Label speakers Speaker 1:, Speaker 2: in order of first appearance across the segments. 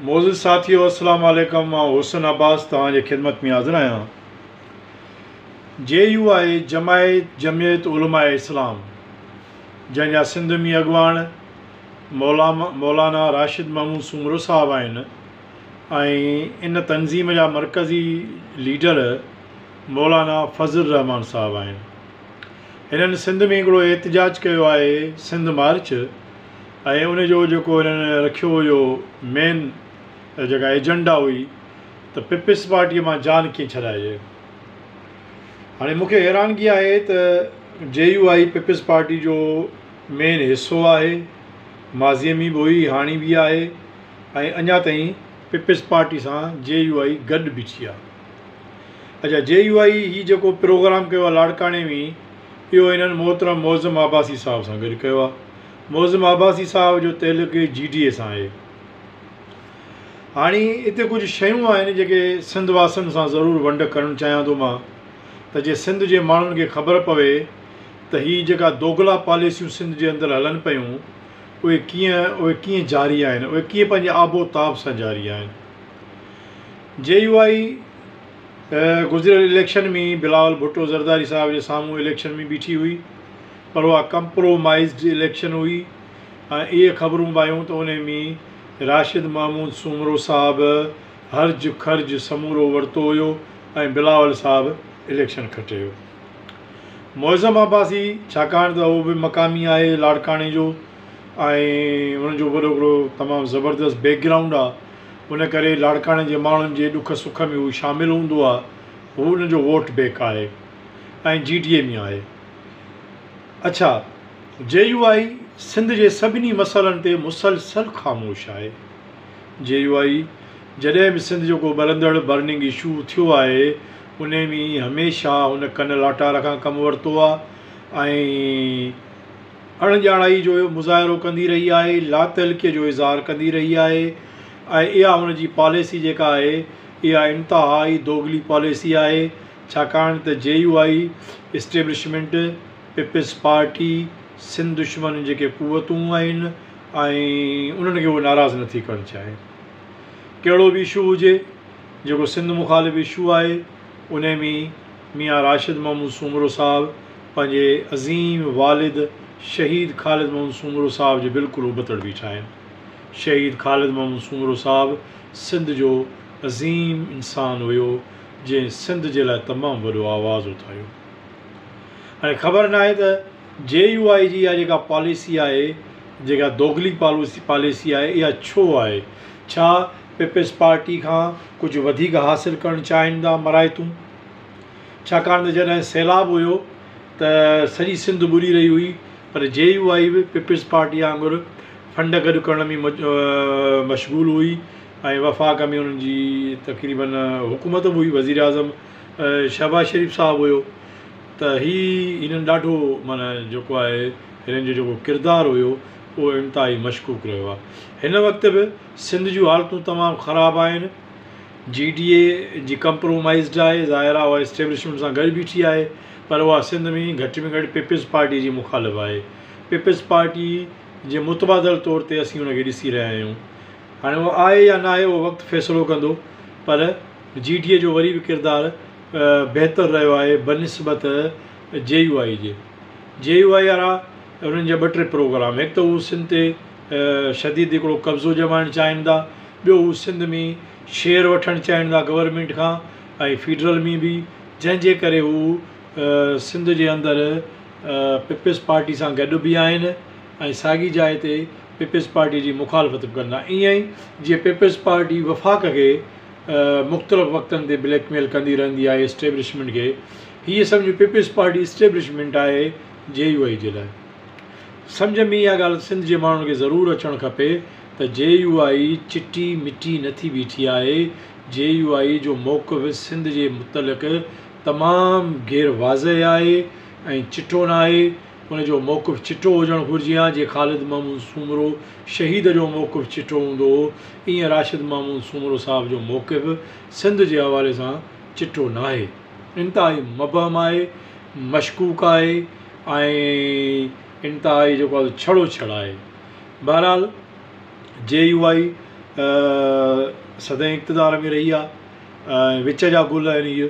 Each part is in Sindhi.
Speaker 1: معزز ساٿيو السلام عليڪم مان حسن عباس توهان جي خدمت ۾ حاضر آهيان جي يو آء جماعت جمعيت علماء اسلام جنهن جا سنڌ ۾ اڳواڻ مولانا راشد محمود سومرو صاحب آهن ۽ ان تنظيم جا مرڪزي ليڊر مولانا فضل الرحمان صاحب آهن هنن سنڌ ۾ هڪڙو احتجاج ڪيو آهي سنڌ مارچ ۽ ان جو جيڪو هنن رکيو هيو مين جيڪا ايجنڊا هئي ته پيپلز پارٽيء مان جان ڪيئن ڇڏائجي. هاڻي مون کي حيرانگي آهي ته جي يو آء پيپلز پارٽيء جو مين حصو آهي، ماضيء ۾ به هئي، هاڻي به آهي ۽ اڃا تائين پيپلز پارٽيء سان جي يو آء گڏ بيٺي آهي. اچا جي يو آء هي جيڪو پروگرام ڪيو آهي لاڙڪاڻي ۾ اهو هنن محترم معظم عباسي صاحب سان گڏ ڪيو آهي. معظم عباسي صاحب جو تعلق جي ڊي اي سان آهي. هاڻي اتي ڪجهه شيون آهن جيڪي سنڌ واسين سان ضرور ونڊ ڪرڻ چاهيان ٿو مان ته جي سنڌ جي ماڻهن کي خبر پوي ته هي جيڪا دوغلا پاليسيون سنڌ جي اندر هلن پيون اهي ڪيئن اهي ڪيئن جاري آهن اهي ڪيئن پنهنجي آب و تاب سان جاري آهن جي يو آئي گذريل اليڪشن ۾ بلاول ڀٽو زرداري صاحب جي سامهون اليڪشن ۾ بيٺي هئي پر اها ڪمپرومائيزڊ اليڪشن هئي ۽ اهي خبرون به آيون ته انهي ۾ راشد محمود سومرو صاحب هرج خرج سمورو ورتو هيو ۽ بلاول صاحب اليڪشن کٽي هيو. معظم عباسي ڇاڪاڻ ته اهو به مقامي آهي لاڙڪاڻي جو ۽ ان جو وڏو هڪڙو تمام زبردست بيڪ گرائونڊ آهي ان ڪري لاڙڪاڻي جي ماڻهن جي ڏک سک ۾ هو شامل هوندو آهي هو ان جو ووٽ بيڪ آهي ۽ جي ڊي اي ۾ آهي. اڇا جي يو آء سنڌ جي سڀني مسئلن تي مسلسل خاموش آهي جي يو آء جڏهن به سنڌ جو ڪو ٻرندڙ برننگ اشو ٿيو آهي انهي ۾ هميشه هن ڪن لاٽار کان ڪم ورتو آهي ۽ اڻ ڄاڻائي جو مظاهرو ڪندي رهي آهي لاتعلقي جو اظهار ڪندي رهي آهي ۽ اها هن جي پاليسي جيڪا آهي اها انتهائي دوغلي پاليسي آهي ڇاڪاڻ ته J U I establishment, peoples party, Sindh دشمن جيڪي قوتون آهن ۽ انهن کي هوء ناراض نه ٿي ڪرڻ چاهي. ڪهڙو به اشو هجي، جيڪو سنڌ مخالف اشو آهي، انهي ۾ ميان راشد محمود سومرو صاحب پنهنجي عظيم والد شهيد خالد محمود سومرو صاحب جي بلڪل ابتڙ بيٺا آهن. شهيد خالد محمود سومرو صاحب سنڌ جو عظيم انسان هيو، جنهن سنڌ جي لاء تمام وڏو آواز اٿاريو. هاڻي خبر ناهي ته جي يو آء جي اها جيڪا پاليسي آهي جيڪا دوغلي پاليسي آهي اها ڇو آهي؟ ڇا پيپلز پارٽي کان ڪجهه وڌيڪ حاصل ڪرڻ چاهين ٿا مرايتون؟ ڇاڪاڻ ته جڏهن سيلاب هيو ته سڄي سنڌ ٻڏي رهي هئي پر جي يو آء به پيپلز پارٽي وانگر فنڊ گڏ ڪرڻ ۾ مشغول هئي. ۽ وفاق ۾ انهن جي تقريباً حڪومت به هئي وزير اعظم شهباز شريف صاحب هيو ته هي هنن ڏاڍو معنيٰ جيڪو آهي هنن جو جيڪو ڪردار هيو اهو انتهائي مشڪوڪ رهيو آهي هن وقت به سنڌ جون حالتون تمام خراب آهن جي ڊي اي جي ڪمپرومائيزڊ آهي ظاهر آهي اها اسٽيبلشمينٽ سان گڏ بيٺي آهي پر اها سنڌ ۾ گهٽ ۾ گهٽ پيپلز پارٽي جي مخالف آهي پيپلز پارٽي جي متبادل طور تي اسين ان کي ڏسي رهيا آهيون هاڻي اهو آهي يا ناهي اهو وقت فيصلو ڪندو پر جي ڊي اي جو وري به ڪردار بهتر رهيو آهي بنسبت جي يو آء جي. جي يو آء وارا انهن جا ٻه ٽي پروگرام هڪ ته هو سنڌ تي شديد هڪڙو قبضو ڄمائڻ چاهين ٿا ٻيو هو سنڌ ۾ شيئر وٺڻ چاهين ٿا گورنمينٽ کان ۽ فيڊرل ۾ به جنهن جي ڪري هو سنڌ جي اندر پيپلز پارٽي سان گڏ به آهن ۽ ساڳي جاء تي پيپلز پارٽي جي مخالفت به ڪندا ائين ئي جيئن پيپلز پارٽي وفاق کي مختلف وقتن تي بليڪ ميل ڪندي رهندي آهي اسٽيبلشمينٽ کي هيء سمجهه پيپلز پارٽي اسٽيبلشمينٽ آهي جي يو آئي جي لاء سمجهه ۾ اها ڳالهه سنڌ جي ماڻهن کي ضرور اچڻ کپي ته جي يو آئي چٽي مٽي نه ٿي بيٺي آهي جي يو آئي جو موقف سنڌ جي متعلق تمام غير واضح آهي ۽ چٽو ناهي ان جو موقف چٽو هجڻ گهرجي ها جيئن خالد محمود سومرو شهيد جو موقف چٽو هوندو هو ايئن راشد محمود سومرو صاحب جو موقف سنڌ جي حوالي سان چٽو ناهي انتهائي مبهم آهي مشڪوڪ آهي ۽ انتهائي جيڪو آهي ڇڙو ڇڙ آهي بهرحال جي يو آئي سدائين اقتدار ۾ رهي آهي وچ جا گل آهن هي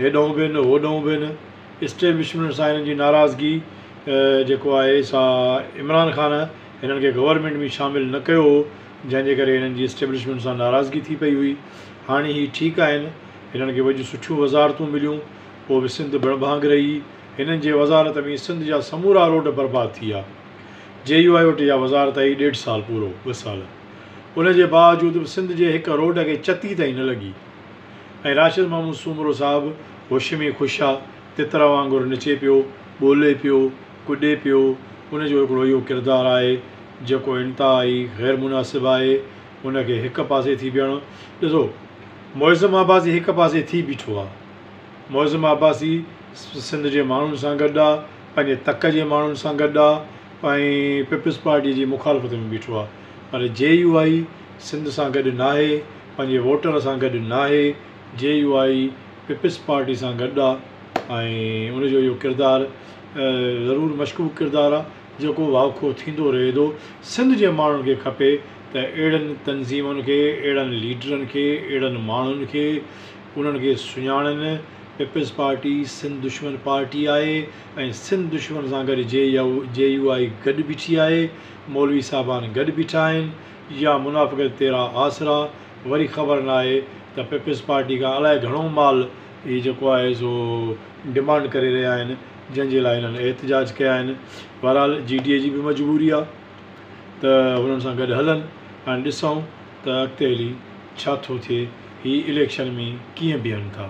Speaker 1: هيڏانهون به نه هوڏانهون به نه اسٽيبلشمينٽ سان هنن جي ناراضگي جيڪو آهي سا عمران خان هنن کي گورنمينٽ ۾ شامل نه ڪيو هو جنهن جي ڪري هنن جي اسٽيبلشمينٽ سان ناراضگي ٿي پئي هئي هاڻي هي ٺيڪ آهن هنن کي وڏيون سٺيون وزارتون مليون پوء به سنڌ بڻ ڀاڱ رهي هنن جي وزارت ۾ سنڌ جا سمورا روڊ برباد ٿي ويا جي يو آء وٽ اها وزارت آئي ڏيڍ سال پورو ٻه سال ان جي باوجود به سنڌ جي هڪ روڊ کي چتي تائين نه لڳي. ۽ راشد محمود سومرو صاحب هوش ۾ خوش آ، تتر وانگر نچي پيو، ٻولي پيو، ڪڏي پيو، ان جو هڪڙو اهو ڪردار آهي، جيڪو انتهائي غير مناسب آهي، ان کي هڪ پاسي ٿي بيهڻو، ڏسو معظم عباسي هڪ پاسي ٿي بيٺو آ، معظم عباسي سنڌ جي ماڻهن سان گڏ آ، پنهنجي تڪ جي ماڻهن سان گڏ آ ۽ پيپلز پارٽي جي مخالفت ۾ بيٺو آ، پر جي يو آء سنڌ سان گڏ ناهي، پنهنجي ووٽر سان گڏ ناهي، J U I peoples party سان گڏ آ ۽ ان جو اهو ڪردار ضرور مشڪوڪ ڪردار آ جيڪو واکو ٿيندو رهي ٿو، سنڌ جي ماڻهن کي کپي ته اهڙن تنظيمن کي، اهڙن ليڊرن کي، اهڙن ماڻهن کي انهن کي سڃاڻن، پيپلز پارٽي سنڌ دشمن پارٽي آهي ۽ سنڌ دشمن سان گڏ جي يو آء گڏ بيٺي آهي، مولوي صاحبان گڏ بيٺا آهن. يا منافقت تيرا آسرا، وري خبر ناهي ته پيپلز پارٽي کان الائي گهڻو مال هي جيڪو آهي سو ڊمانڊ ڪري رهيا آهن جنهن جي لاء هنن احتجاج ڪيا آهن بهرحال جي ڊي اي جي به مجبوري آهي ته هنن سان گڏ هلن هاڻي ڏسون ته اڳتي هلي ڇا ٿو ٿئي هي اليڪشن ۾ ڪيئن بيهن ٿا.